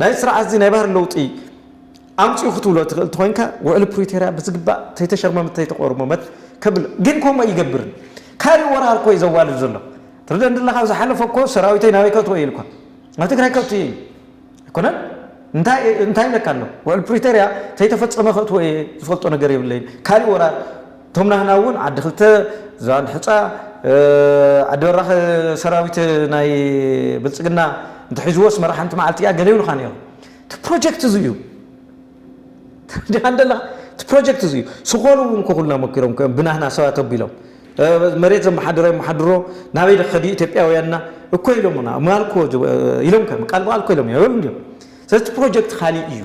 ናይ ስርዓትዚ ናይ ባህሪ ለውጢ ኣምጽኡ ክትብሎ ትኽእል እንተኾይንካ ውዕሊ ፕሪቶርያ ብዝግባእ ተይተሸርመመ ተይተቆርመመት ከብል ግን ከምኡ ኣይገብርን ካልእ ወራር እኮ እዩ ዘዋልድ ዘሎ ትርደን ድለኻ ኣብ ዝሓለፈ እኮ ሰራዊተይ ናበይ ከእትዎ እዩ ኢልኳ ናብ ትግራይ ከእቱ እየ ኣይኮነን እንታይ ኢለካ ኣሎ ውዕል ፕሪቶርያ ተይተፈፀመ ከእትዎ እየ ዝፈልጦ ነገር የብለይን ካልእ ወራር እቶም ናህና እውን ዓዲ ክልተ፣ ዝባን ሕፃ፣ ዓዲ በራኽ ሰራዊት ናይ ብልፅግና እንተሒዝዎ ኣስመራ ሓንቲ መዓልቲ እያ ገለ ይብሉኻ ነይሮም። እቲ ፕሮጀክት እዚ እዩ ዲኻ ደለኻ እቲ ፕሮጀክት እዚ እዩ። ስኾሉ እውን ክኹልና መኪሮም እዮም ብናህና ሰባት ኣቢሎም መሬት ዘመሓድረ የመሓድሮ ናበይ ድኸዲ ኢትዮጵያውያንና እኮ ኢሎምና ማልኮ ኢሎም ከም ቃል ብቃል እኮ ኢሎም ይበሉ እንዲዮም። ስለዚ እቲ ፕሮጀክት ካሊእ እዩ።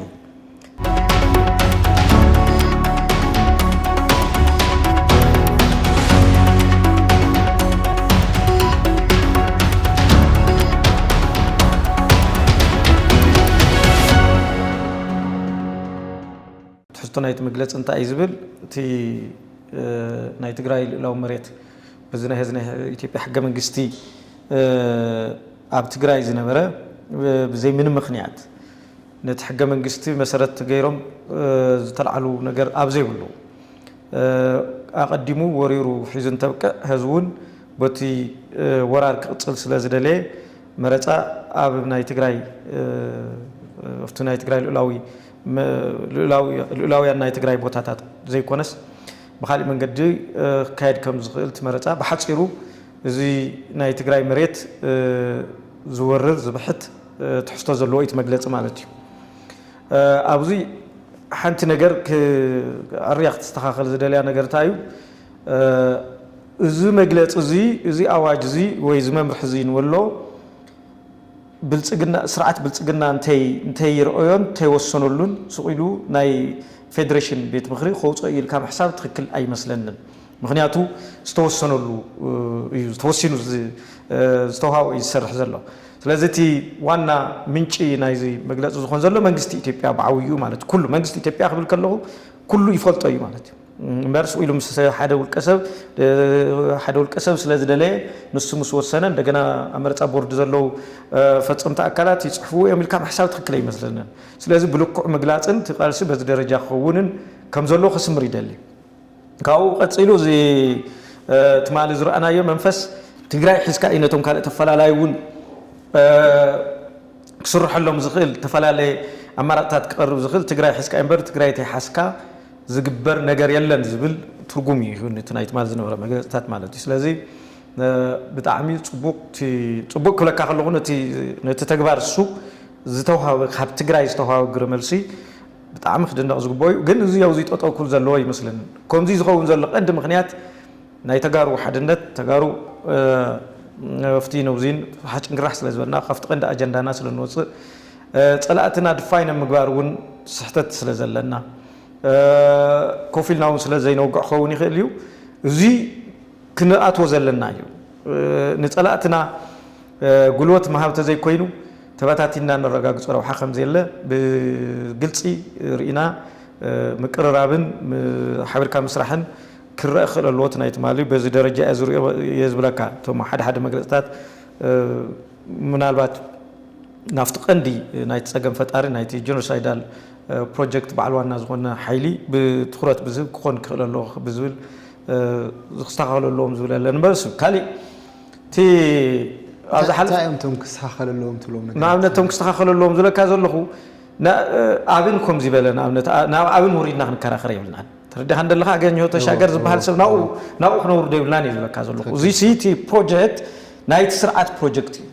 ትሕዝቶ ናይቲ መግለፂ እንታይ እዩ ዝብል እቲ ናይ ትግራይ ልእላዊ መሬት በዚ ናይ ህዝቢ ናይ ኢትዮጵያ ሕገ መንግስቲ ኣብ ትግራይ ዝነበረ ብዘይ ምንም ምክንያት ነቲ ሕገ መንግስቲ መሰረት ገይሮም ዝተልዓሉ ነገር ኣብ ዘይብሉ ኣቐዲሙ ወሪሩ ሒዙ እንተብቅዕ ህዝቢ እውን በቲ ወራር ክቕፅል ስለ ዝደለየ መረፃ ኣብ ናይ ትግራይ ኣብቲ ናይ ትግራይ ልኡላዊ ልኡላውያን ናይ ትግራይ ቦታታት ዘይኮነስ ብካሊእ መንገዲ ክካየድ ከም ዝኽእል እቲ መረፃ ብሓፂሩ እዚ ናይ ትግራይ መሬት ዝወርር ዝብሕት ትሕዝቶ ዘለዎ ኢቲ መግለጺ ማለት ኢዩ። ኣብዚ ሓንቲ ነገር ኣርያ ክትስተኻኸል ዝደልያ ነገር እንታይ ኢዩ እዚ መግለጺ እዚ እዚ ኣዋጅ እዚ ወይ እዚ መምርሒ እዚ ንበሎ ብልጽግና ስርዓት ብልጽግና እንተይ እንተይ ይርኦዮን እንተይ ወሰነሉን ሱቕ ኢሉ ናይ ፌደሬሽን ቤት ምኽሪ ከውጽኦ ኢዩ ኢልካ ምሕሳብ ትኽክል ኣይመስለንን። ምኽንያቱ ዝተወሰነሉ እዩ ተወሲኑ ዝተውሃቦ እዩ ዝሰርሕ ዘሎ ስለዚ እቲ ዋና ምንጪ ናይዚ መግለፂ ዝኾን ዘሎ መንግስቲ ኢትዮጵያ ብዓብይኡ ማለት ኩሉ መንግስቲ ኢትዮጵያ ክብል ከለኹ ኩሉ ይፈልጦ እዩ ማለት እዩ እምበር ስቕ ኢሉ ምስ ሓደ ውልቀ ሰብ ሓደ ውልቀ ሰብ ስለ ዝደለየ ንሱ ምስ ወሰነ እንደገና ኣብ መረፃ ቦርድ ዘለዉ ፈፀምቲ ኣካላት ይፅሕፍዎ እዮም ኢልካ ምሕሳብ ትክክል ኣይመስለንን። ስለዚ ብልክዑ ምግላፅን እቲ ቃልሲ በዚ ደረጃ ክኸውንን ከም ዘለዎ ከስምር ይደሊ። ካብኡ ቀፂሉ እዚ ትማሊ ዝረኣናዮ መንፈስ ትግራይ ሒዝካ እዩ ነቶም ካልእ ተፈላላይ እውን ክስርሐሎም ዝኽእል ተፈላለየ ኣማራፅታት ክቐርብ ዝኽእል ትግራይ ሒዝካ እዩ እምበር ትግራይ ተይሓዝካ ዝግበር ነገር የለን ዝብል ትርጉም እዩ ይህብ እቲ ናይ ትማሊ ዝነበረ መግለፅታት ማለት እዩ ስለዚ ብጣዕሚ ፅቡቅ ፅቡቅ ክብለካ ከለኹ ነቲ ተግባር እሱ ዝተውሃበ ካብ ትግራይ ዝተውሃበ ግብረ መልሲ ብጣዕሚ ክድነቅ ዝግቦ እዩ ግን እዙይ ኣውዙይ ጠጠው ክብል ዘለዎ ኣይመስለንን ኮምዙይ ዝከውን ዘሎ ቀንዲ ምክንያት ናይ ተጋሩ ሓድነት ተጋሩ ኣብቱይ ነብዙይን ሓጭንግራሕ ስለ ዝበልና ካብቲ ቀንዲ ኣጀንዳና ስለ ንወፅእ ፀላእትና ድፋይን ኣብ ምግባር እውን ስሕተት ስለ ዘለና ኮፍ ኢልና እውን ስለ ዘይነውግዕ ክኸውን ይክእል እዩ እዙይ ክንኣትዎ ዘለና እዩ ንፀላእትና ጉልበት ምሃብ ተዘይኮይኑ ተበታቲንና እነረጋግፆ ረብሓ ከምዘየለ ብግልፂ ርኢና። ምቅርራብን ሓቢርካ ምስራሕን ክረእ ክኽእል ኣለዎ። እቲ ናይ ትማሊ በዚ ደረጃ እየ ዝሪኦ እየ ዝብለካ። እቶም ሓደ ሓደ መግለፅታት ምናልባት ናብቲ ቀንዲ ናይቲ ፀገም ፈጣሪ ናይቲ ጀኖሳይዳል ፕሮጀክት በዓል ዋና ዝኾነ ሓይሊ ብትኹረት ብዝህብ ክኾን ክኽእል ኣለዎ ብዝብል ክስተኻኸሉ ኣለዎም ዝብል ኣለኒ እምበር ካሊእ እቲ ኣብዛ ሓለ እንታይ እዮም እቶም ክስተኻኸል ኣለዎም ትብሎም ነገራት? ንኣብነት እቶም ክስተኻኸሉ ኣለዎም ዝብለካ ዘለኹ ና- ኣብን ከምዚ በለ ንኣብነት ኣ- ናብ ኣብን ውሪድና ክንከራኸር የብልናን ተረዲኻ እንደለኻ ኣገኘሁ ተሻገር ዝበሃል ሰብ ናብኡ ናብኡ ክነውርዶ የብልናን እዩ ዝብለካ ዘለኹ እዙይ እቲ ፕሮጀክት ናይቲ ስርዓት ፕሮጀክት እዩ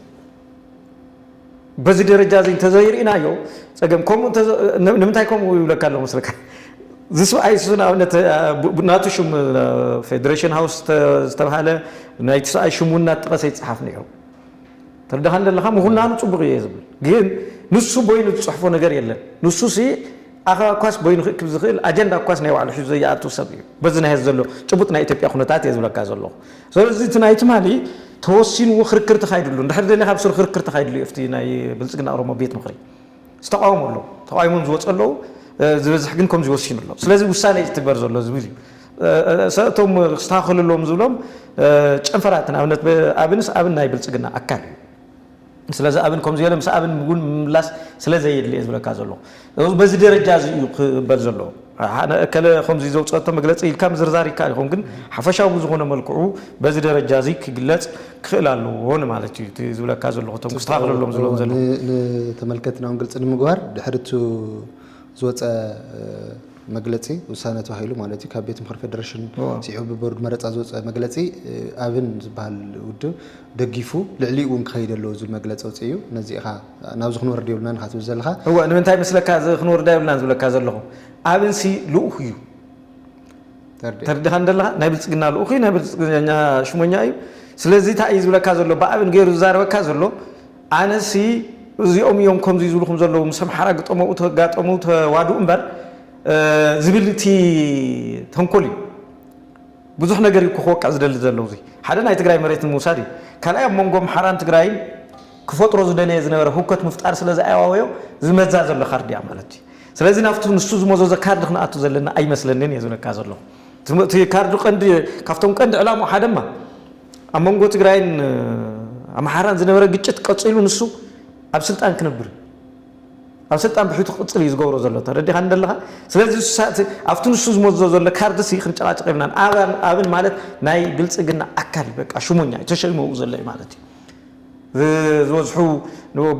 በዚ ደረጃ እዚ እንተዘይርኢናዮ ፀገም ከምኡ ንምንታይ ከምኡ ይብለካ ኣለኹ መስለካ እዚ ሰብኣይ እሱ ንኣብነት ናቱ ሽም ፌደሬሽን ሃውስ ዝተባሃለ ናይቲ ሰብኣይ ሽም እውን እናጠቐሰ ይፅሓፍ ነይሩ ተረዳኻኒ ዘለኻ ምኹናኑ ፅቡቕ እየ ዝብል ግን ንሱ ቦይኑ ዝፅሕፎ ነገር የለን ንሱ ሲ ኣኸባ እኳስ በይኑ ክእክብ ዝኽእል ኣጀንዳ እኳስ ናይ ባዕሉ ሒዙ ዘይኣቱ ሰብ እዩ። በዚ ናይ ሐዚ ዘሎ ጭቡጥ ናይ ኢትዮጵያ ኩነታት እየ ዝብለካ ዘለኹ። ስለዚ እቲ ናይ ትማሊ ተወሲንዎ ክርክር ተኻይድሉ እንድሕር ደሊኻ ኣብ ሱር ክርክር ተኻይድሉ እዩ ኣብቲ ናይ ብልፅግና ኦሮሞ ቤት ምኽሪ። ዝተቓወሙ ኣለዉ ተቓዊሞም ዝወፁ ኣለዉ ዝበዝሕ ግን ከምዚ ወሲኑ ኣሎ። ስለዚ ውሳነ እዩ ዝትግበር ዘሎ ዝብል እዩ። ሰ እቶም ክስተኻኸሉ ኣለዎም ዝብሎም ጨንፈራት ንኣብነት ኣብንስ ኣብን ናይ ብልፅግና ኣካል እዩ። ስለዚ ኣብን ከምዚ ገለ ምስ ኣብን ውን ምምላስ ስለ ዘየድሊ እየ ዝብለካ ዘለኹ። በዚ ደረጃ እዚ እዩ ክበል ዘለዎ። ኣነ እከለ ከምዚ ዘውጸቶ መግለጺ ኢልካ ምዝርዛር ይከኣል ይኸውን ግን ሓፈሻዊ ብዝኾነ መልክዑ በዚ ደረጃ እዚ ክግለጽ ክኽእል ኣለዎ ንማለት እዩ እቲ ዝብለካ ዘለኹ እቶም ክስተኻኸለሎም ዘለዎም ዘለዉ ንተመልከትናውን ግልጺ ንምግባር ድሕሪ እቲ ዝወጸ መግለጺ ውሳነ ተባሂሉ ማለት እዩ ካብ ቤት ምኽሪ ፌደሬሽን ስዒቡ ብቦርድ መረፃ ዝወፀ መግለፂ ኣብን ዝበሃል ውድብ ደጊፉ ልዕሊኡ እውን ክኸይድ ኣለዎ ዝብል መግለፂ ኣውፂኡ እዩ ነዚ ኢኻ ናብዚ ክንወርድ የብልናን ኢኻ ትብል ዘለኻ እወ ንምንታይ መስለካ እዚ ክንወርዳ የብልናን ዝብለካ ዘለኹ ኣብንሲ ልኡኽ እዩ ተርዲኻን ዘለኻ ናይ ብልፅግና ልኡኽ እዩ ናይ ብልፅግና ሽሞኛ እዩ ስለዚ እንታይ እዩ ዝብለካ ዘሎ ብኣብን ገይሩ ዝዛረበካ ዘሎ ኣነሲ እዚኦም እዮም ከምዙይ ዝብልኹም ዘለዉ ምስ ኣምሓራ ግጠመኡ ተጋጠሙ ተዋድኡ እምበር ዝብል እቲ ተንኮል እዩ ብዙሕ ነገር እዩ ክወቅዕ ዝደሊ ዘለዉ እዙይ ሓደ ናይ ትግራይ መሬት ንምውሳድ እዩ ካልኣይ ኣብ መንጎ ኣምሓራን ትግራይን ክፈጥሮ ዝደለየ ዝነበረ ህውከት ምፍጣር ስለ ዝኣዋወዮ ዝመዛ ዘሎ ካርድ እያ ማለት እዩ ስለዚ ናብቲ ንሱ ዝመዘዞ ካርድ ክንኣቱ ዘለና ኣይመስለንን እየ ዝብለካ ዘለኹ እቲ ካርድ ቀንዲ ካብቶም ቀንዲ ዕላምኡ ሓደማ ኣብ መንጎ ትግራይን ኣምሓራን ዝነበረ ግጭት ቀፂሉ ንሱ ኣብ ስልጣን ክነብር ኣብ ስልጣን ብሕቱ ክቅፅል እዩ ዝገብሮ ዘሎ ተረዲኻ እንደለኻ ስለዚ ኣብቲ ንሱ ዝመዞ ዘሎ ካርድሲ ክንጨቃጨቅ የብናን ኣብን ማለት ናይ ብልፅግና ኣካል በቃ ሽሞኛ እዩ ተሸይመኡ ዘሎ እዩ ማለት እዩ ዝበዝሑ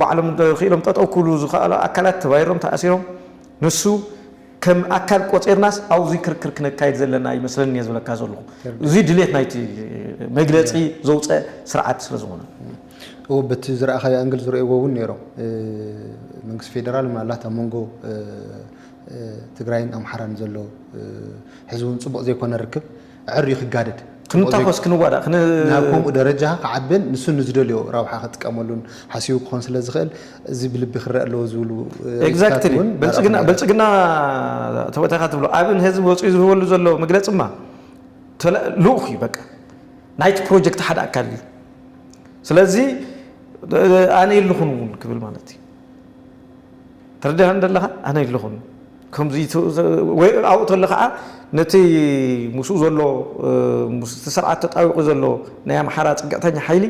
ባዕሎም ክኢሎም ጠጠው ክብሉ ዝኸኣሉ ኣካላት ተባይሮም ተኣሲሮም ንሱ ከም ኣካል ቆጺርናስ ኣውዚ ክርክር ክነካይድ ዘለና ኣይመስለንን እየ ዝብለካ ዘለኹ። እዚ ድሌት ናይቲ መግለጺ ዘውጸ ስርዓት ስለ ዝኾነ። እዎ በቲ ዝረኣኻዮ ኣንግል ዝርእይዎ እውን ነይሮም። መንግስቲ ፌደራል ምናልባት ኣብ መንጎ ትግራይን ኣምሓራን ዘሎ ሕዚ እውን ፅቡቕ ዘይኮነ ርክብ ኣዐርዩ ክጋደድ፣ ከምኡ ዜጋ ክንታኾስ፣ ክንዋዳእ፣ ክን። ናብ ከምኡ ደረጃ ክዓብን ንሱ ንዝደልዮ ረብሓ ክጥቀመሉን ሓሲቡ ክኾን ስለ ዝኽእል እዚ ብልቢ ክረእ ኣለዎ ዝብሉ ሪኢቶታት Exactly! እውን ናብኣ ብልጽግና፣ ክንበጽሕ። ብልጽግና ተወታካ ትብሎ ኣብ ንህዝቢ ወጺኡ ዝህበሉ ዘሎ መግለጺማ ተለ ልኡኽ እዩ በቃ። ናይቲ ፕሮጀክት ሓደ ኣካል እዩ። ስለዚ ኣነ የለኹን እውን ክብል ማለት እዩ። ተረዲኣኒ ደለኻ? ኣነ የለኹን። ከምዚ ወይ ኣብኡ ተሎ ከኣ ነቲ ምስኡ ዘሎ ምስቲ ስርዓት ተጣቢቑ ዘሎ ናይ ኣምሓራ ጽግዕተኛ ሓይሊ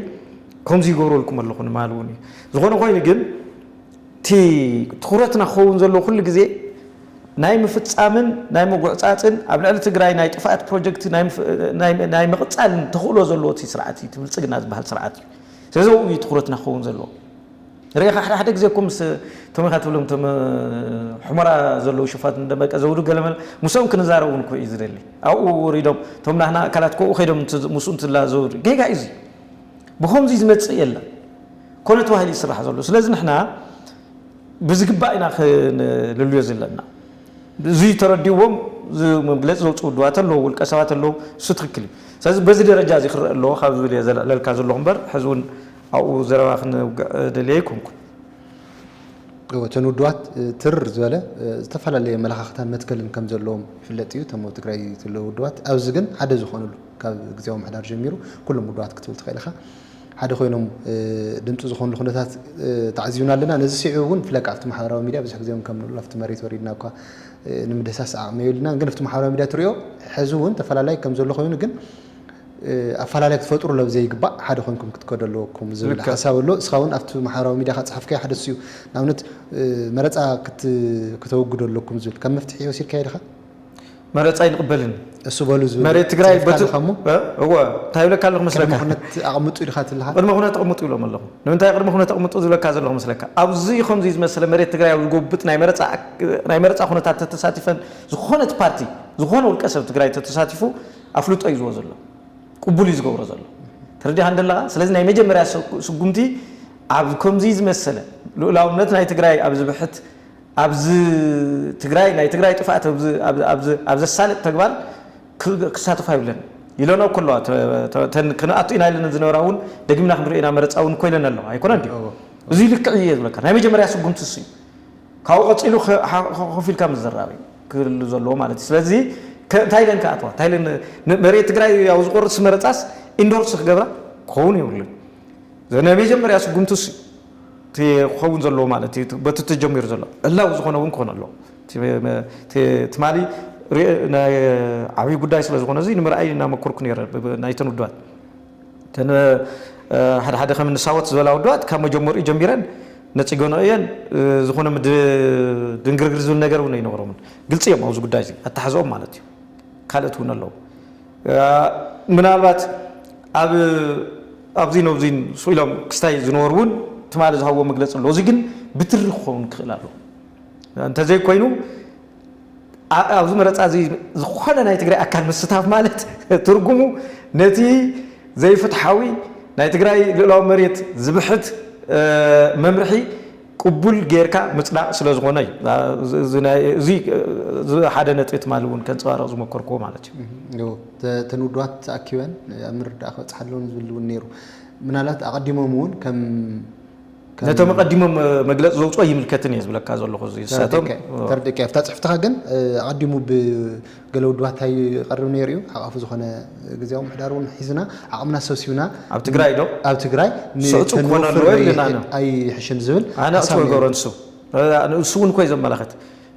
ከምዚ ይገብረልኩም ኣለኹ ንማል እውን እዩ ዝኾነ ኮይኑ ግን እቲ ትኹረትና ክኸውን ዘለዎ ኩሉ ግዜ ናይ ምፍጻምን ናይ ምጉዕጻጽን ኣብ ልዕሊ ትግራይ ናይ ጥፍኣት ፕሮጀክት ናይ ምቕጻልን ተኽእሎ ዘለዎ እቲ ስርዓት እዩ እቲ ብልጽግና ዝበሃል ስርዓት እዩ ስለዚ ኣብኡ እዩ ትኹረትና ክኸውን ዘለዎ ርኢኻ ሓደ ሓደ ግዜ እኮ ምስ እቶም ኢኻ ትብሎም እቶም ሑመራ ዘለዉ ሽፋትን ደመቀ ዘውዱ ገለመለ ምስኦም ክንዛረብ እውን እኮ እዩ ዝደሊ ኣብኡ ወሪዶም እቶም ናህና ኣካላት እኮ ኣብኡ ከይዶም ምስኡ እንትላዘቡ ጌጋ እዩ እዚ ብኸምዚ ዝመጽእ የለን ኮነ ተባሂሉ ይስራሕ ዘሎ ስለዚ ንሕና ብዝግባእ ኢና ክንልልዮ ዘለና እዙይ ተረዲዎም መግለፂ ዘውፅኡ ውድባት ኣለዉ ውልቀ ሰባት ኣለዉ እሱ ትክክል እዩ ስለዚ በዚ ደረጃ እዚ ክረአ ኣለዎ ካብ ዝብል እየ ዘለዕለልካ ዘለኹ እምበር ሕዚ እውን ኣብኡ ዘረባ ክነውግዕ ደልየ ኣይኮንኩን። እወ እተን ውድባት ትርር ዝበለ ዝተፈላለየ ኣመለኻኽታን መትከልን ከም ዘለዎም ይፍለጥ እዩ። እቶም ኣብ ትግራይ ዘለዉ ውድባት ኣብዚ ግን ሓደ ዝኾንሉ ካብ ግዝያዊ ምሕዳር ጀሚሩ ኩሎም ውድባት ክትብል ትኽእል ኢኻ ሓደ ኮይኖም ድምፂ ዝኾንሉ ኩነታት ተዓዚብና ኣለና። ነዚ ስዒቡ እውን ብፍላይ ከዓ ኣብቲ ማሕበራዊ ሚድያ ብዙሕ ግዜ እውን ከም ንብሎ ኣብቲ መሬት ወሪድና እኳ ንምድህሳስ ዓቕሚ የብልናን ግን ኣብቲ ማሕበራዊ ሚድያ ትሪኦ ሕዚ እውን ተፈላላይ ከም ዘሎ ኮይኑ ግን ኣፋላላይ ክትፈጥሩ ሎብ ዘይግባእ ሓደ ኮይንኩም ክትከዱ ኣለወኩም ዝብል ልክዕ ሓሳብ ኣሎ እስኻ ውን ኣብቲ ማሕበራዊ ሚድያኻ ዝጸሓፍካዮ ሓደ እሱ እዩ ንኣብነት መረጻ ክት ክተወግዱ ኣለኩም ዝብል ከም መፍትሒ ወሲድካዮ ዲኻ? መረጻ ኣይንቕበልን እሱ በሉ ዝብል መሬት ትግራይ ጽሒፍካ በቲ ኣለኻ እሞ እ እወ እንታይ ይብለካ ኣለኹ ቅድመ መስለካ ኩነት ኣቕምጡ ኢልካ ትልሃ? ቅድመ ኩነት ኣቕምጡ ይብሎም ኣለኹ ንምንታይ ቅድመ ኩነት ኣቕምጡ ዝብለካ ዘለኹ መስለካ ኣብዙይ ከምዙይ ዝመሰለ መሬት ትግራይ ኣብ ዝጎብጥ ናይ መረጻ ኣክ ናይ መረጻ ኩነታት ተተሳቲፈን ዝኾነት ፓርቲ ዝኾነ ውልቀ ሰብ ትግራይ ተተሳቲፉ ኣፍልጦ እዩ ዝህቦ ዘሎ ቅቡል እዩ ዝገብሮ ዘሎ ተረዲኻኒ ደለኻ ስለዚ ናይ መጀመርያ ስጉምቲ ኣብ ከምዚ ዝመሰለ ልኡላውነት ናይ ትግራይ ኣብ ዝብሕት ኣብዚ ትግራይ ናይ ትግራይ ጥፍኣት ኣብ ዘሳልጥ ተግባር ክሳተፉ ኣይብለን ኢለኖ እኮ ኣለዋ ክንኣቱ ኢና ኢለን ዝነበራ እውን ደጊምና ክንሪኦ ኢና መረፃ እውን እኮ ኢለን ኣለዋ ኣይኮነን ድዩ እዚ ልክዕ እዩ ዝብለካ ናይ መጀመርያ ስጉምቲ እሱ እዩ ካብኡ ቀጺሉ ኮፍ ኢልካ ምዝራብ እዩ ክህሉ ዘለዎ ማለት እዩ። ስለዚ እንታይ ኢለን ክኣትዋ እንታይ ኢለን መሬት ትግራይ ያው ዝቆርጽ መረጻስ ኢንዶርስ ክገብራ ክኸውን የብሉን። ናይ መጀመርያ ስጉምቲ እሱ ክኸውን ዘለዎ ማለት እዩ በቲ ተጀሚሩ ዘሎ ዕላዊ ዝኾነ እውን ክኾነ ኣለዎ ትማሊ ናይ ዓብዪ ጉዳይ ስለ ዝኾነ እዚ ንምርኣይ እናመኮርኩ ነይረ ናይተን ውድባት እተን ሓደ ሓደ ከም እኒ ሳወት ዝበላ ውድባት ካብ መጀመርኡ ጀሚረን ነጺገንኦ እየን። ዝኾነ ድንግርግር ዝብል ነገር እውን ኣይነበሮምን። ግልጺ እዮም ኣብዚ ጉዳይ እዚ ኣተሓሕዝኦም ማለት እዩ። ካልኦት እውን ኣለዉ። ምናልባት ኣብ ኣብዚን ኣብዚን ስቕ ኢሎም ክስታይ ዝነበሩ እውን ትማሊ ዝሃብዎ መግለጺ ኣሎ። እዚ ግን ብትሪ ክኸውን ክኽእል ኣለዎ። እንተዘይኮይኑ ኣብዚ መረፃ እዚ ዝኾነ ናይ ትግራይ ኣካል ምስታፍ ማለት ትርጉሙ ነቲ ዘይፍትሓዊ ናይ ትግራይ ልእላዊ መሬት ዝብሕት መምርሒ ቅቡል ጌርካ ምፅዳቕ ስለ ዝኾነ እዩ እዚ ሓደ ነጥቢ ትማሊ እውን ከንፀባርቕ ዝመኮርክዎ ማለት እዩ እተን ውድባት ተኣኪበን ኣብ ምርዳእ ክበፅሓ ኣለዎን ዝብል እውን ነይሩ ምናልባት ኣቐዲሞም እውን ከም ነቶም ኣቐዲሞም መግለፂ ዘውፅኦ ኣይምልከትን እየ ዝብለካ ዘለኹ እዚ ንሳቶም ተረዲእካ ኣብታ ፅሕፍትኻ ግን ኣቐዲሙ ብገለ ውድባት እንታይ ይቐርብ ነይሩ እዩ ሓቛፊ ዝኾነ ግዜያዊ ምሕዳር እውን ሒዝና ዓቕምና ሰብሲብና ኣብ ትግራይ ዶ ኣብ ትግራይ ስዕፁ ክኾነሉ ወይ ንና ኣይሕሽን ዝብል ኣነእፅወ ገሮንሱ ንሱ እውን ኮይ ዘመላኸት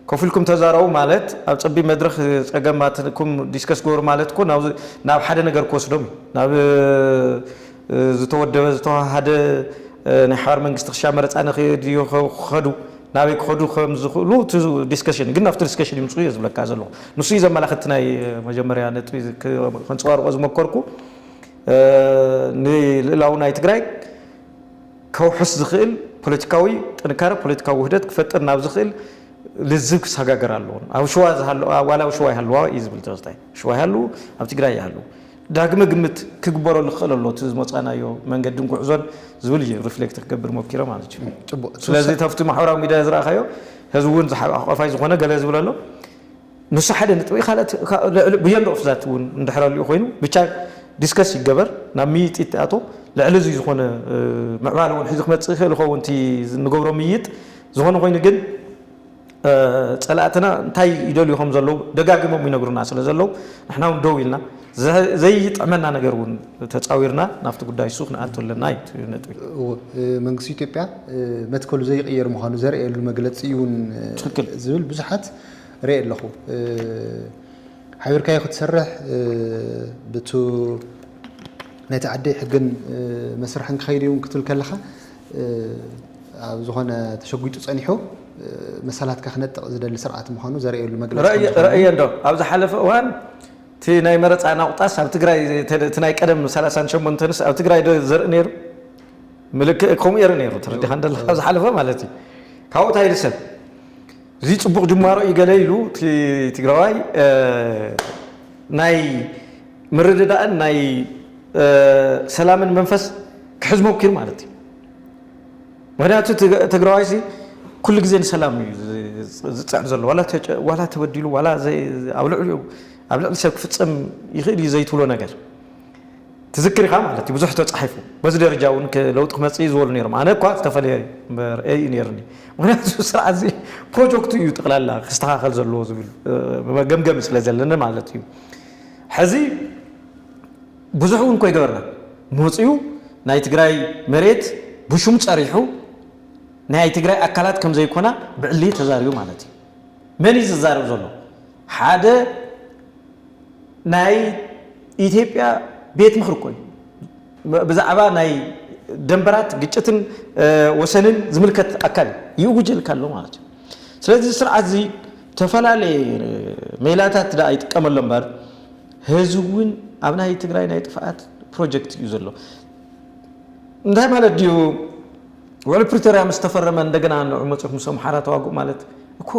ኮፍ ኢልኩም ተዛረቡ ማለት ኣብ ጸቢብ መድረኽ ጸገማትኩም ዲስከስ ግበሩ ማለት እኮ ናብ ሓደ ነገር ክወስዶም እዩ። ናብ ዝተወደበ ዝተወሃሃደ ናይ ሓባር መንግስቲ ክሻ መረጻ ንክድ ክኸዱ ናበይ ክኸዱ ከም ዝኽእሉ እቲ ዲስከሽን ግን ናብቲ ዲስከሽን ይምጽኡ እየ ዝብለካ ዘለኹ። ንሱ እዩ ዘመላኽት እቲ ናይ መጀመርያ ነጥቢ ከንጸባርቆ ዝመከርኩ ንልእላው ናይ ትግራይ ከውሕስ ዝኽእል ፖለቲካዊ ጥንካረ፣ ፖለቲካዊ ውህደት ክፈጥር ናብ ዝኽእል ልዝብ ክሰጋገር ኣለዎ። ኣብ ሽዋ ዝሃለ ዋላ ኣብ ሽዋ ይሃልዋ እዩ ዝብል ተኸስታይ። ሽዋ ይሃልው፣ ኣብ ትግራይ ይሃልው። ዳግመ ግምት ክግበረሉ ክኽእል ኣሎ እቲ ዝመፃእናዮ መንገድን ጉዕዞን ዝብል እዩ ሪፍሌክት ክገብር ሞኪረ ማለት እዩ። ፅቡቅ ስለዚ ተፍቲ ማሕበራዊ ሚድያ ዝረኣኻዮ ህዝቢ እውን ሓቋፋይ ዝኾነ ገለ ዝብል ኣሎ። ንሱ ሓደ ንጥቢ ካልኦት ብጀንደ ኦፍ ዛት ውን እንድሕር ኣልኡ ኮይኑ ብቻ ዲስከስ ይገበር ናብ ምይይጥ ይተኣቶ ልዕሊ እዙይ ዝኾነ ምዕባለ ውን ሕዚ ክመፅእ ይኽእል ይኸውን እቲ ንገብሮ ምይይጥ ዝኾነ ኮይኑ ግን ፀላእትና እንታይ ይደልዩ ከም ዘለዉ ደጋጊሞም ይነግሩና ስለ ዘለዉ ንሕና ውን ደው ኢልና ዘይጥዕመና ነገር ውን ተፃዊርና ናብቲ ጉዳይ እሱ ክንኣቱ ኣለና እዩ ነጥቢ መንግስቲ ኢትዮጵያ መትከሉ ዘይቕየር ምዃኑ ዘርእየሉ መግለፂ እዩን ዝብል ብዙሓት ሪኤ ኣለኹ ሓቢርካዮ ክትሰርሕ ብቱ ናይቲ ዓዲ ሕግን መስርሕን ክኸይድ እዩ ክትብል ከለኻ ኣብ ዝኾነ ተሸጒጡ ጸኒሑ መሰላትካ ክነጥቕ ዝደሊ ስርዓት ምዃኑ ዘርእየሉ መግለጺ ከም ዝኾነ ረእየ እንዶ ኣብ ዝሓለፈ እዋን እቲ ናይ መረፃ ናቑጣስ ኣብ ትግራይ እቲ ናይ ቀደም ሰላሳን ሸሞንተንስ ኣብ ትግራይ ዶ ዘርኢ ነይሩ ምልክእ ከምኡ የርኢ ነይሩ ተረዲኻ እንደለኻ ኣብ ዝሓለፈ ማለት እዩ ካብኡ እንታይ ልሰብ እዚ ፅቡቅ ጅማሮ እዩ ገለ ኢሉ እቲ ትግራዋይ ናይ ምርድዳእን ናይ ሰላምን መንፈስ ክሕዝ ሞኪሩ ማለት እዩ ምክንያቱ ትግራዋይ ሲ ኩሉ ግዜ ንሰላም እዩ ዝፅዕር ዘሎ ዋላ ተበዲሉ ዋላ ኣብ ልዕሊኡ ኣብ ልዕሊ ሰብ ክፍፀም ይኽእል እዩ ዘይትብሎ ነገር ትዝክር ኢኻ ማለት እዩ ብዙሕ ተጻሒፉ በዚ ደረጃ እውን ለውጢ ክመጽእ እዩ ዝበሉ ነይሮም ኣነ እኳ ዝተፈለየ ርእይ እዩ ነይርኒ ምክንያቱ ስርዓት እዚ ፕሮጀክቱ እዩ ጠቕላላ ክስተኻኸል ዘለዎ ዝብል መገምገሚ ስለ ዘለኒ ማለት እዩ ሕዚ ብዙሕ እውን ኮይገበርና መፅኡ ናይ ትግራይ መሬት ብሹም ጸሪሑ ናይ ትግራይ ኣካላት ከም ዘይኮና ብዕሊ ተዛሪቡ ማለት እዩ መን እዩ ዝዛረብ ዘሎ ሓደ ናይ ኢትዮጵያ ቤት ምኽሪ እኮ እዩ ብዛዕባ ናይ ደንበራት ግጭትን ወሰንን ዝምልከት ኣካል እዩ ይእውጀልካ ኣሎ ማለት እዩ ስለዚ እዚ ስርዓት እዚ ዝተፈላለየ ሜላታት ደኣ ይጥቀመሎ እምበር ህዚ እውን ኣብ ናይ ትግራይ ናይ ጥፍኣት ፕሮጀክት እዩ ዘሎ እንታይ ማለት ድዩ ውዕል ፕሪቶሪያ ምስ ተፈረመ እንደገና ንዑ መፅኹም ምስ ኣምሓራ ተዋግኡ ማለት እኮ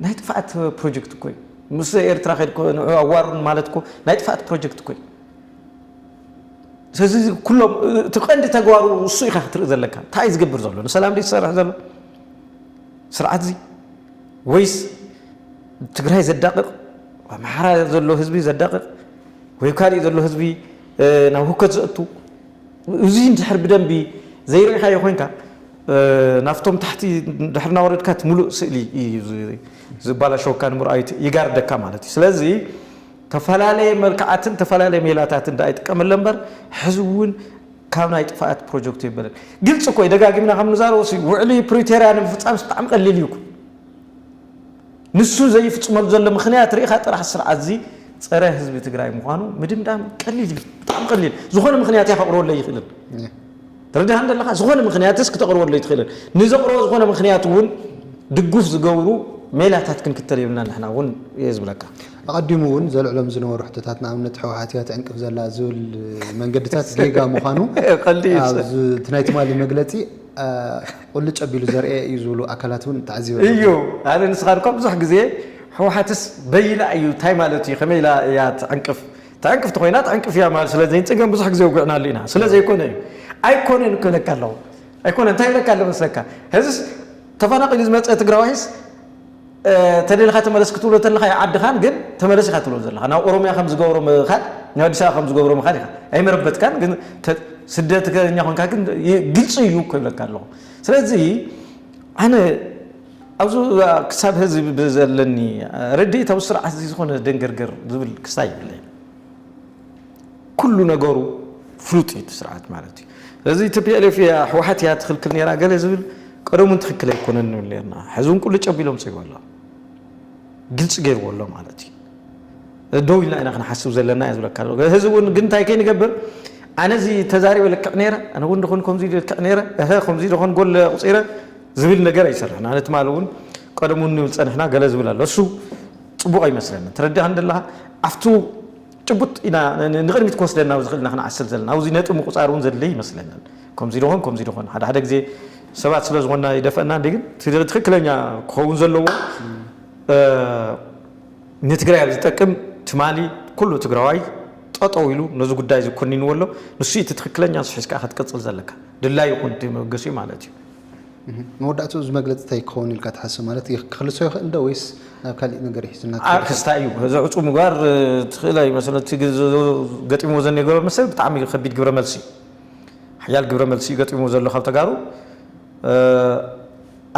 ናይ ጥፍኣት ፕሮጀክት እኮ እዩ ምስ ኤርትራ ከድኩ ንዑ ኣዋሩን ማለትኩ ናይ ጥፍኣት ፕሮጀክት እኮ እዩ ስለዚ ኩሎም እቲ ቀንዲ ተግባሩ እሱ ኢኻ ክትርኢ ዘለካ እንታይ እዩ ዝገብር ዘሎ ንሰላም ድዩ ዝሰርሕ ዘሎ ስርዓት እዚ ወይስ ትግራይ ዘዳቅቕ ኣምሓራ ዘሎ ህዝቢ ዘዳቅቕ ወይ ካልእ ዘሎ ህዝቢ ናብ ሁከት ዘእቱ እዚ እንድሕር ብደንቢ ዘይርኢኻዮ ኮይንካ ናብቶም ታሕቲ ድሕር እናወረድካ እቲ ሙሉእ ስእሊ እዩ ዝባላሸወካ ንምርኣዩ ይጋርደካ ማለት እዩ ስለዚ ተፈላለየ መልክዓትን ተፈላለየ ሜላታትን ዳኣ ይጥቀመለ እምበር ሕዚ እውን ካብ ናይ ጥፍኣት ፕሮጀክቱ የበለን ግልፂ እኮ እዩ ደጋጊምና ከም ንዛረቦ ውዕሊ ፕሪቶርያ ንምፍፃም ብጣዕሚ ቀሊል እዩ እኮ ንሱ ዘይፍፅመሉ ዘሎ ምኽንያት ሪኢኻ ጥራሕ ስርዓት እዚ ፀረ ህዝቢ ትግራይ ምዃኑ ምድምዳም ቀሊል እዩ ብጣዕሚ ቀሊል ዝኾነ ምኽንያት እያ ከቕርበለይ ይኽእልን ተረድሃ እንደለኻ ዝኾነ ምኽንያትስ ክተቕርበለይ ትኽእልን ንዘቕርቦ ዝኾነ ምኽንያት እውን ድጉፍ ዝገብሩ ሜላታት ክንክተል የብልና ንሕና እውን እየ ዝብለካ ኣቐዲሙ እውን ዘልዕሎም ዝነበሩ ሕቶታት ንኣብነት ሕወሓት እያ ትዕንቅፍ ዘላ ዝብል መንገድታት ጌጋ ምዃኑ እቲ ናይ ትማሊ መግለፂ ቁልጭ ኣቢሉ ዘርእየ እዩ ዝብሉ ኣካላት እውን ተዓዚበ ኣለኹ። እዩ ኣነ ንስኻ እኳ ብዙሕ ግዜ ህውሓትስ በይና እዩ እንታይ ማለት እዩ ከመይ ኢላ እያ ትዕንቅፍ ትዕንቅፍ ተኾይና ትዕንቅፍ እያ ማለት ስለዘይ ፅገም ብዙሕ ግዜ ውግዕናሉ ኢና ስለዘይኮነ እዩ ኣይኮነን ክብለካ ኣለኹ ኣይኮነ እንታይ ይብለካ ኣሎ መስለካ ሕዝስ ተፈናቂሉ ዝመፀ ትግራዋይስ ተደሊኻ ተመለስ ክትብሎ ተለኻ ዩ ዓድኻን ግን ተመለስ ኢኻ ትብሎ ዘለኻ ናብ ኦሮምያ ከም ዝገብሮ ምኻድ ናብ ኣዲስ ኣበባ ከም ዝገብሮ ምኻድ ኢኻ ኣይመረበትካን ግን ስደተኛ ኮንካ ግን ግልፂ እዩ እኮ ይብለካ ኣለኹ ስለዚ ኣነ ኣብዚ ክሳብ ህዚ ብዘለኒ ርድኢት ኣብ ስርዓት እዚ ዝኾነ ደንገርገር ዝብል ክስታይ ይብለይ ኩሉ ነገሩ ፍሉጥ እዩ እቲ ስርዓት ማለት እዩ። ስለዚ ቲፒኤልኤፍ እያ ህወሓት እያ ትኽልክል ነይራ ገለ ዝብል ቀደም እውን ትኽክል ኣይኮነን ንብል ነርና። ሕዚ እውን ቁልጭ ኣቢሉ ኣምፅእዎ ኣሎ፣ ግልፂ ገይርዎ ኣሎ ማለት እዩ። ደው ኢልና ኢና ክንሓስብ ዘለና እያ ዝብለካ ኣሎ ህዚ እውን ግን እንታይ ከይንገብር ኣነ እዚ ተዛሪበ ልክዕ ነይረ ኣነ እውን ደኾን ከምዚ ልክዕ ነይረ እሀ ከምዚ ደኾን ጎል ኣቑፂረ ዝብል ነገር ኣይሰርሕን ኣነ ትማል እውን ቀደም እውን ንብል ፀንሕና ገለ ዝብል ኣሎ እሱ ፅቡቕ ኣይመስለኒ ትረድኣ እንደለኻ ኣብቱ ጭቡጥ ኢና ንቕድሚት ክወስደና ዝኽእል ኢና ክንዓስል ዘለና። ኣብ'ዚ ነጥቢ ምቁጻር እውን ዘድልይ ይመስለናል። ከም'ዚ ዶ ኾን ከም'ዚ ዶ ኾን ሓደ ሓደ ግዜ ሰባት ስለ ዝኾንና ይደፈእና እንድዩ ግን እቲ ትኽክለኛ ክኸውን ዘለዎ ንትግራይ ኣብ ዝጠቅም ትማሊ ኩሉ ትግራዋይ ጠጠው ኢሉ ነዚ ጉዳይ እዚ ኮኒንዎ ኣሎ። ንሱ'ዩ እቲ ትኽክለኛ ንሱ ሒዝካ'ያ ክትቅጽል ዘለካ። ድላዩ ይኹን እቲ መበገሲኡ ማለት እዩ። መወዳእትኡ እዚ መግለጺ እንታይ ክኸውን ኢልካ ትሓስብ ማለት ክኽልሶ ይኽእል ዶ ወይስ ናብ ካሊእ ነገር እዩ ሒዙና ክኸይድ ዓርክስ ታይ እዩ እዚ ዕጹው ምግባር ትኽእል ኣይመስል እቲ ገጢምዎ ዘኔገሮ መሰል ብጣዕሚ ከቢድ ግብረ መልሲ እዩ ሓያል ግብረ መልሲ እዩ ገጢምዎ ዘሎ ካብ ተጋሩ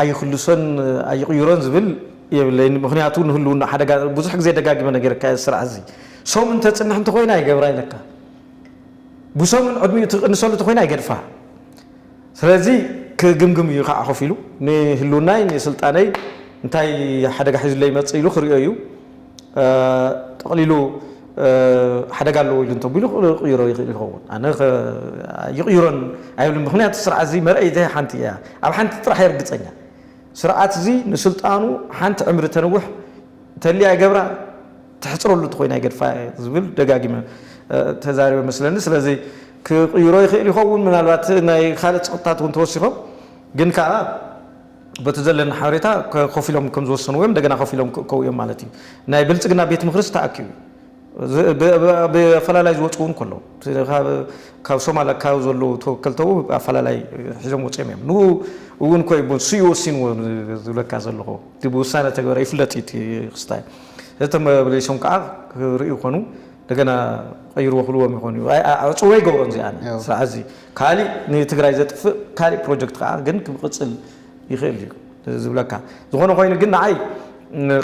ኣይኽልሶን ኣይቕይሮን ዝብል የብለይን ምኽንያቱ ንህልውና ሓደጋ ብዙሕ ግዜ ደጋጊመ ነገርካ እየ ስርዓት እዚ ሰሙን ተጽንሕ እንተኾይና ይገብራ ኢለካ ብሰሙን ዕድሚኡ ትቕንሰሉ ተኾይና ይገድፋ ስለዚ ክግምግም እዩ ካዓ ኮፍ ኢሉ ንህልውናይ ንስልጣነይ እንታይ ሓደጋ ሒዙለይ ይመፅእ ኢሉ ክሪኦ እዩ ጠቅሊሉ ሓደጋ ኣለዎ ኢሉ እንተቢሉ ክቅይሮ ይክእል ይኸውን ኣነ ይቅይሮን ኣይብልን ምክንያቱ እዚ ስርዓት እዚ መርኣይ እተይ ሓንቲ እያ ኣብ ሓንቲ ጥራሕ እየ ርግፀኛ ስርዓት እዚ ንስልጣኑ ሓንቲ ዕምሪ ተንውሕ ተሊያ ይገብራ ተሕጽረሉ ተኾይና ይገድፋ እየ ዝብል ደጋጊመ ተዛሪበ መስለኒ ስለዚ ክቕይሮ ይኽእል ይኸውን ምናልባት ናይ ካልእ ጸቕጥታት እውን ተወሲኾም ግን ከኣ በቲ ዘለኒ ሓበሬታ ኮፍ ኢሎም ከም ዝወሰንዎ እዮም እንደገና ኮፍ ኢሎም ክእከቡ እዮም ማለት እዩ ናይ ብልጽግና ቤት ምኽርስ ተኣኪቡ ብኣፈላላይ ዝወፁ እውን ከለዉ ካብ ሶማል ኣካባቢ ዘለዉ ተወከልተው ኣፈላላይ ሒዞም ወፅኦም እዮም ንኡ እውን ኮይ ስዩ ወሲንዎ ዝብለካ ዘለኹ እቲ ብውሳነ ተግበረ ይፍለጥ እዩ ክስታይ ዘተ መብሊሶም ከኣ ክርእዩ ይኾኑ እንደገና ቀይርዎ ክብልዎም ይኾኑ እዩ ዕፅዎ ይገብሮም እዚኣን ስርዓት እዚ ካሊእ ንትግራይ ዘጥፍእ ካሊእ ፕሮጀክት ከኣ ግን ክቅፅል ይኽእል እዩ ዝብለካ ዝኾነ ኮይኑ ግን ንዓይ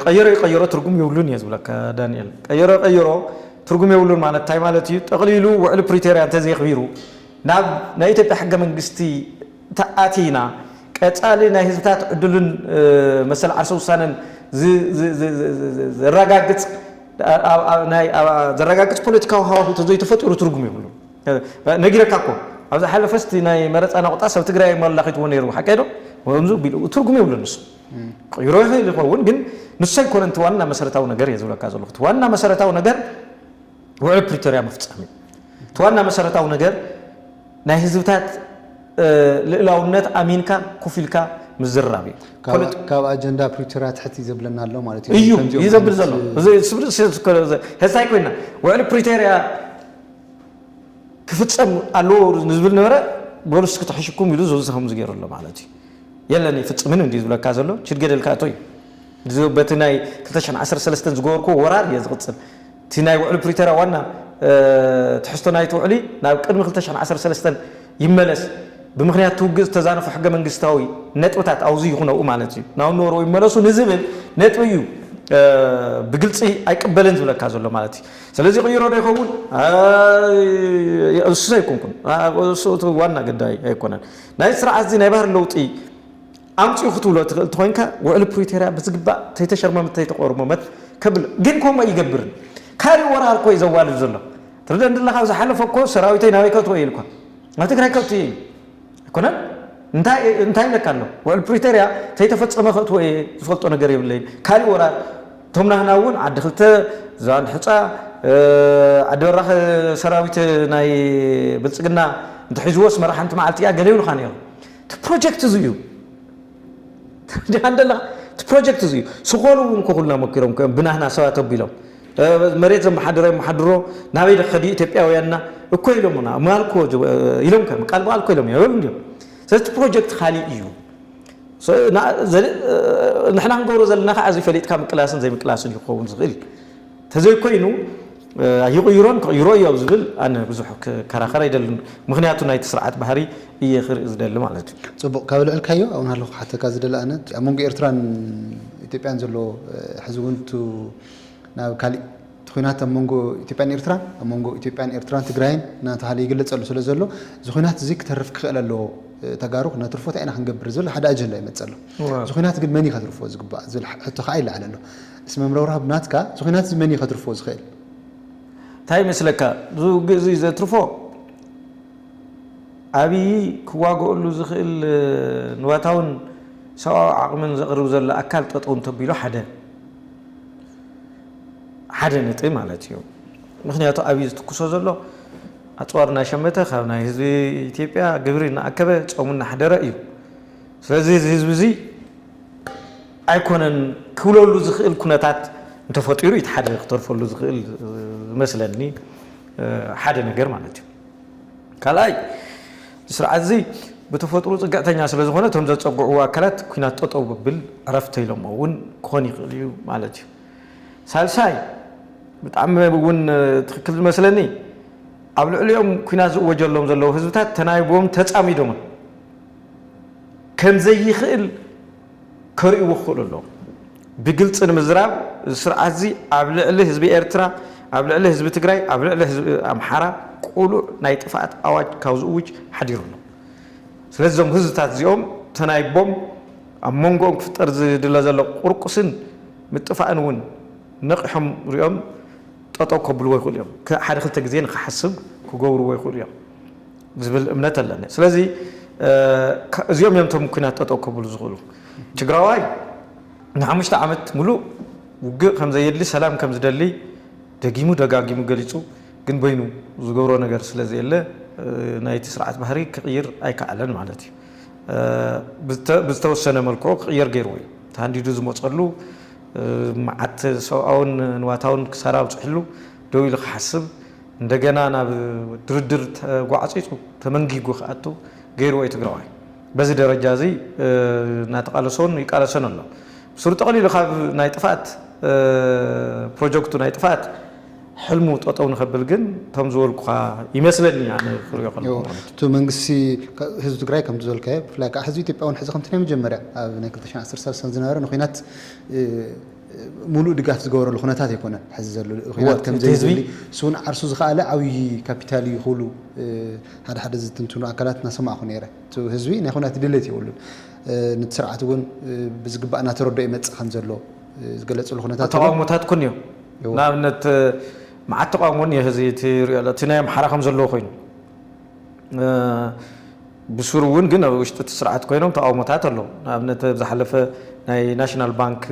ቀይሮ ይቀይሮ ትርጉም የብሉን እየ ዝብለካ ዳንኤል ቀይሮ ቀይሮ ትርጉም የብሉን ማለት እንታይ ማለት እዩ ጠቕሊሉ ውዕሊ ፕሪቶርያ እንተዘይኽቢሩ ናብ ናይ ኢትዮጵያ ሕገ መንግስቲ ተኣቲና ቀፃሊ ናይ ህዝብታት ዕድሉን መሰል ዓርሰ ውሳነን ዘራጋግፅ ዘራጋግፅ ፖለቲካዊ ሃዋሁ ተዘይተፈጢሩ ትርጉም የብሉን። ነጊረካ እኮ ኣብ ዝሓለፈ እስቲ ናይ መረፃ ናቑጣ ሰብ ትግራይ የመላኺትዎ ነይሩ ሓቀይ ዶ ከምዚ ቢሉ ትርጉም የብሉን ንሱ ክቕይሮ ይኽእል ይኸውን ግን ንሱ ኣይኮነን እቲ ዋና መሰረታዊ ነገር እየ ዝብለካ ዘለኹ እቲ ዋና መሰረታዊ ነገር ውዕል ፕሪቶርያ ምፍፃም እዩ። እቲ ዋና መሰረታዊ ነገር ናይ ህዝብታት ልእላውነት ኣሚንካ ኩፍ ኢልካ ምዝርራብ እዩ። ካብ ኣጀንዳ ፕሪቶርያ ትሕት እዩ ዘብለና ኣሎ ማለት እዩ። እዩ ከምዚኦም እዩ ዘብል ዓይነት ዘሎ እዚ ስብር ሕዚ ታይ ኮይና ውዕሊ ፕሪቶርያ ክፍፀም ኣለዎ ንዝብል ነበረ በሉ እስኪ ተሐሽኩም ኢሉ እዚ ከምዚ ገይሩ ኣሎ ማለት እዩ። የለን ኣይፍፅምን እንድዩ ዝብለካ ዘሎ ችድገደልካ እቶ እዩ። እዚ በቲ ናይ ክልተ ሽሕን ዓሰርተ ሰለስተን ዝገበርክዎ ወራር እየ ዝቕፅል። እቲ ናይ ውዕሊ ፕሪቶርያ ዋና ትሕዝቶ ናይቲ ውዕሊ ናብ ቅድሚ ክልተ ሽሕን ዓሰርተ ሰለስተን ይመለስ፣ ብምኽንያት እቲ ውግእ ዝተዛነፉ ሕገ መንግስታዊ ነጥብታት ኣውዚ ይኹን ኣብኡ ማለት እዩ ናብ ነበርኡ ይመለሱ ንዝብል ነጥቢ እዩ ብግልፂ ኣይቅበልን ዝብለካ ዘሎ ማለት እዩ። ስለዚ ይቕይሮ ዶ ይኸውን? እሱ ኣይኮንኩን እሱ ዋና ግዳይ ኣይኮነን ናይዚ ስርዓት እዚ ናይ ባህሪ ለውጢ ኣምጽኡ ክትብሎ ትኽእል እንተኾይንካ ውዕሊ ፕሪቶርያ ብዝግባእ ተይተሸርመመት ተይተቆርመመት ከብል ግን ከምኡ ኣይገብርን ካሊእ ወራር እኮ እዩ ዘዋልድ ዘሎ ትርደን ድለኻ ኣብ ዝሓለፈ እኮ ሰራዊተይ ናበይ ከእትዎ ኢሉ እኳ ናብ ትግራይ ከእትዮ እዩ ኣይኮነን እንታይ እንታይ ኢለካ ኣሎ ውዕል ፕሪቶርያ ተይተፈጸመ ከእትዎ እየ ዝፈልጦ ነገር የብለይን ካሊእ ወራር እቶም ናህና እውን ዓዲ ክልተ ዝባን ሕፃ ዓዲ በራኸ ሰራዊት ናይ ብልጽግና እንተሒዝዎስ መራሓንቲ መዓልቲ እያ ገለ ይብሉኻ ነይሮም እቲ ፕሮጀክት እዙይ እዩ። ትርዳኣኒ ዶ ኣለኻ? እቲ ፕሮጀክት እዙይ እዩ። ስኾሉ እውን እኮ ኩልና መኪሮም እኮ እዮም ብናህና ሰባት ኣቢሎም። መሬት ዘመሓድሮ የመሓድሮ ናበይ ዶ ክኸዱ ኢትዮጵያውያንና እኮ ኢሎሙና ምናል እኮ ኢሎም ከም ቃል ብቓል እኮ ኢሎም እዮም ይብሉ እንዲዮም። ስለዚ እቲ ፕሮጀክት ካሊእ እዩ። ንሕና ክንገብሮ ዘለና ከዓ እዚ ፈሊጥካ ምቅላስን ዘይምቅላስን እዩ ክኸውን ዝኽእል። ተዘይኮይኑ ኣይቕይሮን ክቕይሮ እዮ ኣብ ዝብል ኣነ ብዙሕ ክከራኸር ኣይደልን ምኽንያቱ ናይቲ ስርዓት ባህሪ እየ ክርኢ ዝደሊ ማለት እዩ። ጽቡቕ ካብ ኣልዕልካዮ ኣብኡ ናሃለኹ ክሓተካ ዝደሊ ኣነ እቲ ኣብ መንጎ ኤርትራን ኢትዮጵያን ዘሎ ሕዚ ውን እቱ ናብ ካሊእ እቲ ኹናት ኣብ መንጎ ኢትዮጵያን ኤርትራን ኣብ መንጎ ኢትዮጵያን ኤርትራን ትግራይን እናተሃለ ይግለጸሉ ስለ ዘሎ እዚ ኹናት እዚ ክተርፍ ክኽእል ኣለዎ ተጋሩ ክነትርፎ ታይ ኢና ክንገብር ዝብል ሓደ ኣጀንዳ ይመጽእ ኣሎ እዚ ኹናት ግን መን እዩ ከትርፎ ዝግባእ ዝብል ሕቶ ካኣ ይለዓል ኣሎ እስመ ምረውራብ ናትካ እዚ ኹናት እዚ መን እዩ ከትርፎ ዝኽእል? ታይ ይመስለካ እዚ ውግእ እዙይ ዘትርፎ ኣብይ ክዋገኦሉ ዝኽእል ንዋታውን ሰብኣዊ ዓቕምን ዘቕርብ ዘሎ ኣካል ጠጠው እንተቢሉ ሓደ ሓደ ነጥቢ ማለት እዩ ምኽንያቱ ኣብይ ዝትኩሶ ዘሎ ኣፅዋር እናሸመተ ካብ ናይ ህዝቢ ኢትዮጵያ ግብሪ እናኣከበ ፆሙ እናሕደረ እዩ ስለዚ እዚ ህዝቢ እዙይ ኣይኮነን ክብለሉ ዝኽእል ኩነታት እንተፈጢሩ እዩ እቲ ሓደ ክተርፈሉ ዝኽእል ዝመስለኒ ሓደ ነገር ማለት እዩ ካልኣይ ስርዓት እዚ ብተፈጥሮ ፅግዕተኛ ስለ ዝኾነ እቶም ዘፀግዕዎ ኣካላት ኩናት ጠጠው ብብል ዕረፍተ ኢሎሞ እውን ክኾን ይኽእል እዩ ማለት እዩ ሳልሳይ ብጣዕሚ እውን ትክክል ዝመስለኒ ኣብ ልዕሊኦም ኩናት ዝእወጀሎም ዘለዉ ህዝብታት ተናይቦም ተፃሚዶምን ከም ዘይኽእል ከርእይዎ ክኽእሉ ኣለዎም። ብግልጺ ንምዝራብ እዚ ስርዓትዚ ኣብ ልዕሊ ህዝቢ ኤርትራ፣ ኣብ ልዕሊ ህዝቢ ትግራይ፣ ኣብ ልዕሊ ህዝቢ ኣምሓራ ቅሉዕ ናይ ጥፍኣት ኣዋጅ ካብ ዝእውጅ ሓዲሩ ኣሎ። ስለዚ እዞም ህዝብታት እዚኦም ተናይቦም ኣብ መንጎኦም ክፍጠር ዝድለ ዘሎ ቁርቁስን ምጥፋእን እውን ነቒሖም ርእዮም ጠጠው ከብልዎ ይኽእሉ እዮም። ሓደ ክልተ ግዜ ንኽሓስብ ክገብርዎ ይኽእሉ እዮም። ዝብል እምነት ኣለኒ ስለዚ እዚኦም እዮም ቶም ኩናት ጠጠው ከብሉ ዝኽእሉ ትግራዋይ ንሓሙሽተ ዓመት ሙሉእ ውግእ ከም ዘየድሊ ሰላም ከም ዝደሊ ደጊሙ ደጋጊሙ ገሊፁ ግን በይኑ ዝገብሮ ነገር ስለ ዘየለ ናይቲ ስርዓት ባህሪ ክቕይር ኣይከኣለን ማለት እዩ ብዝተወሰነ መልክዑ ክቕየር ገይርዎ እዩ ተሃንዲዱ ዝመፀሉ መዓት ሰብኣውን ንዋታውን ክሳራ ኣብፅሕሉ ደው ኢሉ ክሓስብ እንደገና ናብ ድርድር ተጓዕጺጹ ተመንጊጉ ክኣቱ ገይርዎ እዩ ትግራዋይ። በዚ ደረጃ እዚ እናተቓለሶን ይቃለሰን ኣሎ። ብሱሩ ጠቕሊሉ ካብ ናይ ጥፍኣት ፕሮጀክቱ ናይ ጥፍኣት ሕልሙ ጠጠው ንኸብል ግን እቶም ዝበልኩኻ ይመስለኒ ኣነ ክሪኦ ከለኹ ማለት እዩ። እቲ መንግስቲ ህዝቢ ትግራይ ከምቲ ዝበልካዮ ብፍላይ ከዓ ህዝቢ ኢትዮጵያ እውን ሕዚ ከምቲ ናይ መጀመርያ ኣብ ናይ ክልተ ሽሕን ዓሰርተ ሳልሳን ዝነበረ ንኩናት ሙሉእ ድጋፍ ዝገበረሉ ኩነታት ኣይኮነን ሐዚ ዘሎ ኹናት ከምዘይድሊ ስውን ዓርሱ ዝኸኣለ ዓብዪ ካፒታል እዩ ክብሉ ሓደ ሓደ ዝትንትኑ ኣካላት እናሰማዕኹ ነይረ እቲ ህዝቢ ናይ ኹናት ድሌት የብሉን ነቲ ስርዓት እውን ብዝግባእ እናተረድኦ ይመፅእ ከምዘሎ ዝገለፅሉ ኩነታት ተቃውሞታት ኩን እዩ ንኣብነት መዓት ተቃውሞ እኒኦ ህዚ እቲ ሪኦ እቲ ናይ ኣምሓራ ከምዘለዎ ኮይኑ ብሱሩ እውን ግን ኣብ ውሽጢ እቲ ስርዓት ኮይኖም ተቓውሞታት ኣለዉ። ንኣብነት ኣብ ዝሓለፈ ናይ ናሽናል ባንክ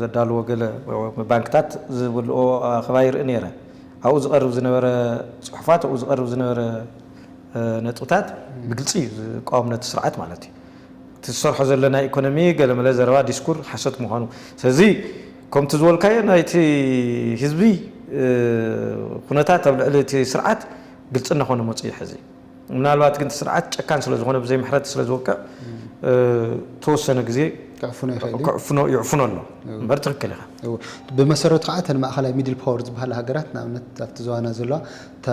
ዘዳልዎ ገለ ባንክታት ዝብልኦ ኣኸባ ይርኢ ነይረ። ኣብኡ ዝቐርብ ዝነበረ ፅሑፋት ኣብኡ ዝቐርብ ዝነበረ ነጥብታት ብግልፂ እዩ ዝቃወም ነቲ ስርዓት ማለት እዩ። እቲ ዝሰርሖ ዘሎ ናይ ኢኮኖሚ ገለመለ ዘረባ ዲስኩር ሓሶት ምዃኑ ስለዚ ከምቲ ዝበልካዮ ናይቲ ህዝቢ ኩነታት ኣብ ልዕሊ እቲ ስርዓት ግልፂ እናኾነ መፂኡ እዩ ሕዚ። ምናልባት ግን እቲ ስርዓት ጨካን ስለ ዝኾነ ብዘይ ምሕረት ስለ ዝወቅዕ ተወሰነ ግዜ ክዕፍኖ ይኽእል እዩ። ክዕፍኖ ይዕፍኖ ኣሎ እው። እምበር ትክክል ኢኻ እው። ብመሰረቱ ከዓ እተን ማእኸላይ ሚድል ፓወር ዝበሃላ ሃገራት ንኣብነት ኣብቲ ዞባና ዘለዋ እታ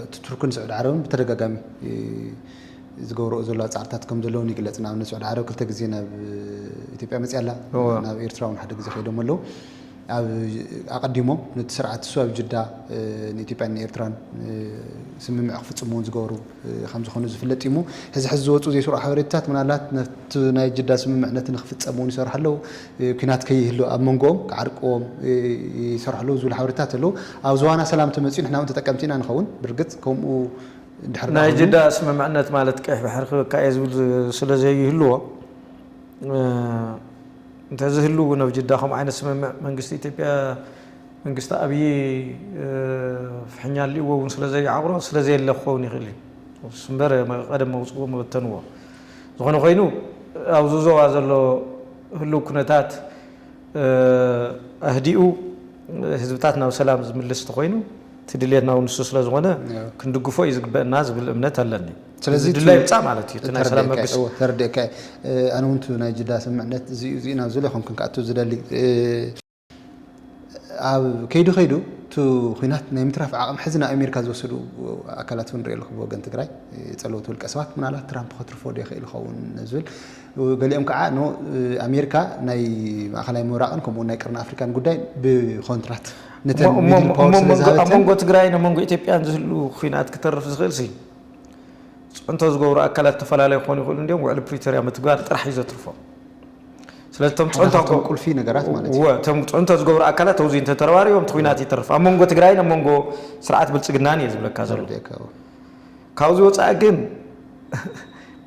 እቲ ቱርክን ስዑዲ ዓረብን ብተደጋጋሚ እ፣ ዝገብርኦ ዘለዋ ፃዕርታት ከም ዘለውን ይግለፅ። ንኣብነት ስዑዲ ዓረብ ክልተ ግዜ ናብ ኢትዮጵያ መፅያ ኣላ፣ እወ። ናብ ኤርትራ እውን ሓደ ግዜ ከይዶም ኣለዉ። ኣብ ኣቐዲሞ ነቲ ስርዓት እሱ ኣብ ጅዳ ንኢትዮጵያን ንኤርትራን ስምምዕ ክፍጽሙ እውን ዝገበሩ ከም ዝኾኑ ዝፍለጥ እዩ እሞ ሕዚ ሕዚ ዝወጹ ዘይስሩዕ ሓበሬታታት ምናልባት ነቲ ናይ ጅዳ ስምምዕ ነቲ ንክፍጸም እውን ይሰርሑ ኣለዉ ኲናት ከይህሉ ኣብ መንጎኦም ክዓርቅዎም ይሰርሑ ኣለዉ ዝብሉ ሓበሬታታት ኣለዉ ኣብ ዝዋና ሰላም ተመጺኡ ንሕና እውን ተጠቀምቲ ኢና ንኸውን ብርግጽ ከምኡ እንድሕር ናይ ጅዳ ስምምዕነት ማለት ቀይሕ ባሕሪ ክበካ እየ ዝብል ስለ ዘይህልዎ እንተዝህሉ እውን ኣብ ጅዳ ከምኡ ዓይነት ስምምዕ መንግስቲ ኢትዮጵያ መንግስቲ ኣብዪ ፍሕኛ ኣልእዎ እውን ስለዘይዓቑሮ ስለዘየለ ክኸውን ይኽእል እዩ ስምበር ቀደም መውፅዎ መበተንዎ ዝኾነ ኮይኑ ኣብዚ ዞባ ዘሎ ህልው ኩነታት ኣህዲኡ ህዝብታት ናብ ሰላም ዝምልስ ተኾይኑ እቲ ድልየትና እውን ንሱ ስለዝኾነ ክንድግፎ እዩ ዝግበእና ዝብል እምነት ኣለኒ። ስለዚ ድላይ ምፃእ ማለት እዩ ናይ ሰላም መብገሲ ተረዲእካ ኣነ እውን ናይ ጅዳ ስምዕነት እዚኡ እዚ ናብ ዝለ ከምክን ክኣቱ ዝደሊ ኣብ ከይዱ ከይዱ እቲ ኩናት ናይ ምትራፍ ዓቕሚ ሕዚ ናብ ኣሜሪካ ዝወሰዱ ኣካላት እውን ሪኦ ኣለኹ ብወገን ትግራይ ፀለውቲ ውልቀ ሰባት ምናልባት ትራምፕ ከትርፎ ዶ ይኽእል ይኸውን ዝብል ገሊኦም ከዓ ን ኣሜሪካ ናይ ማእኸላይ ምብራቕን ከምኡ ናይ ቅርኒ ኣፍሪካን ጉዳይ ብኮንትራት ነተን ሚድል ፓወር ስለዝሃበተን ኣብ መንጎ ትግራይን ኣብ መንጎ ኢትዮጵያን ዝህሉ ኩናት ክተርፍ ዝኽእል ሲ ፅዕንቶ ዝገብሩ ኣካላት ዝተፈላለዩ ክኾኑ ይኽእሉ እንድዮም፣ ውዕሊ ፕሪቶርያ ምትግባር ጥራሕ እዩ ዘትርፎም። ስለዚ እቶም ሓደ ፅዕንቶ ካብቶም ቁልፊ ነገራት ማለት እዩ። እወ እቶም ፅዕንቶ ዝገብሩ ኣካላት ኣብዙይ እንተተረባሪቦም እቲ ኹናት ይተርፍ። ኣብ መንጎ ትግራይን ኣብ መንጎ ስርዓት ብልፅግናን እየ ዝብለካ ዘለኹ። ተረዲኤካ እወ። ካብዙይ ወፃኢ ግን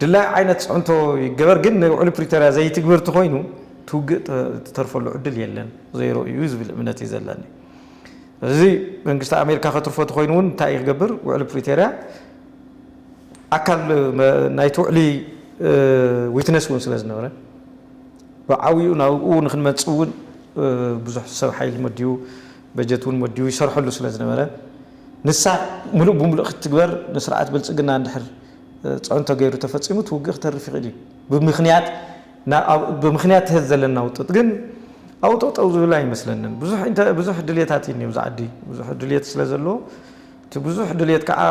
ድላዩ ዓይነት ፅዕንቶ ይገበር ግን ንውዕሊ ፕሪቶርያ ዘይትግብር ተኾይኑ እቲ ውግእ ዝተርፈሉ ዕድል የለን፣ ዜሮ እዩ ዝብል እምነት እዩ ዘለኒ። እዚ መንግስቲ ኣሜሪካ ከትርፎ ተኾይኑ እውን እንታይ እዩ ክገብር? ውዕሊ ፕሪቶርያ ኣካል ናይቲ ውዕሊ ዊትነስ እውን ስለ ዝነበረ ብዓብኡ ናብኡ ንክንመፅእ እውን ብዙሕ ሰብ ሓይሊ መዲቡ በጀት እውን መዲቡ ይሰርሐሉ ስለ ዝነበረ ንሳ ምሉእ ብምሉእ ክትግበር ንስርዓት ብልፅግና እንድሕር ፅዕንቶ ገይሩ ተፈፂሙ እቲ ውግእ ክተርፍ ይኽእል እዩ ብምኽንያት ብምክንያት ተዝ ዘለና ውጥጥ ግን ኣብኡ ጠጠው ዝብል ኣይመስለንን። ብዙሕ ኢንተ ብዙሕ ድልየታት እዩ እኒ ኣብዚ ዓዲ ብዙሕ ድልየት ስለ ዘሎ እቲ ብዙሕ ድልየት ከዓ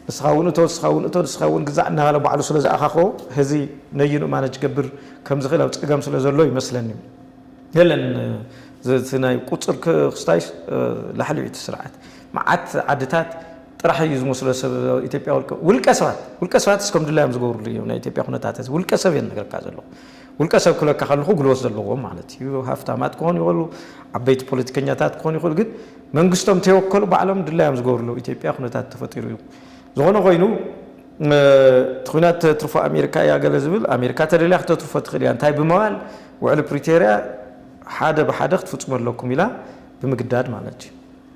ንስኻ እውን እቶ ንስኻ እውን እቶ ንስኻ እውን ግዛዕ እናባለ ባዕሉ ስለ ዝኣኻኾ ህዚ ነይኑ ማነጅ ክገብር ከም ዝኽእል ኣብ ፀገም ስለ ዘሎ ይመስለኒ የለን እቲ ናይ ቁፅር ክስታይስ ላሕሊ እዩ እቲ ስርዓት መዓት ዓድታት ጥራሕ እዩ ዝመስሎ ሰብ ኢትዮጵያ ውልቀ ውልቀ ሰባት ውልቀ ሰባት እስከም ድላዮም ዝገብርሉ እዮም ናይ ኢትዮጵያ ኩነታት እዚ ውልቀ ሰብ እየ ነገርካ ዘለኹ ውልቀ ሰብ ክብለካ ከለኹ ግልወት ዘለዎም ማለት እዩ ሃፍታማት ክኾኑ ይኽእሉ ዓበይቲ ፖለቲከኛታት ክኾኑ ይኽእሉ ግን መንግስቶም ተይወከሉ ባዕሎም ድላዮም ዝገብርሉ ኢትዮጵያ ኩነታት ተፈጢሩ እዩ ዝኾነ ኮይኑ እቲ ኩናት ተትርፎ ኣሜሪካ እያ ገለ ዝብል ኣሜሪካ ተደልያ ክተትርፎ ትኽእል እያ እንታይ ብምባል ውዕሊ ፕሪቶርያ ሓደ ብሓደ ክትፍፅሙ ኣለኩም ኢላ ብምግዳድ ማለት እዩ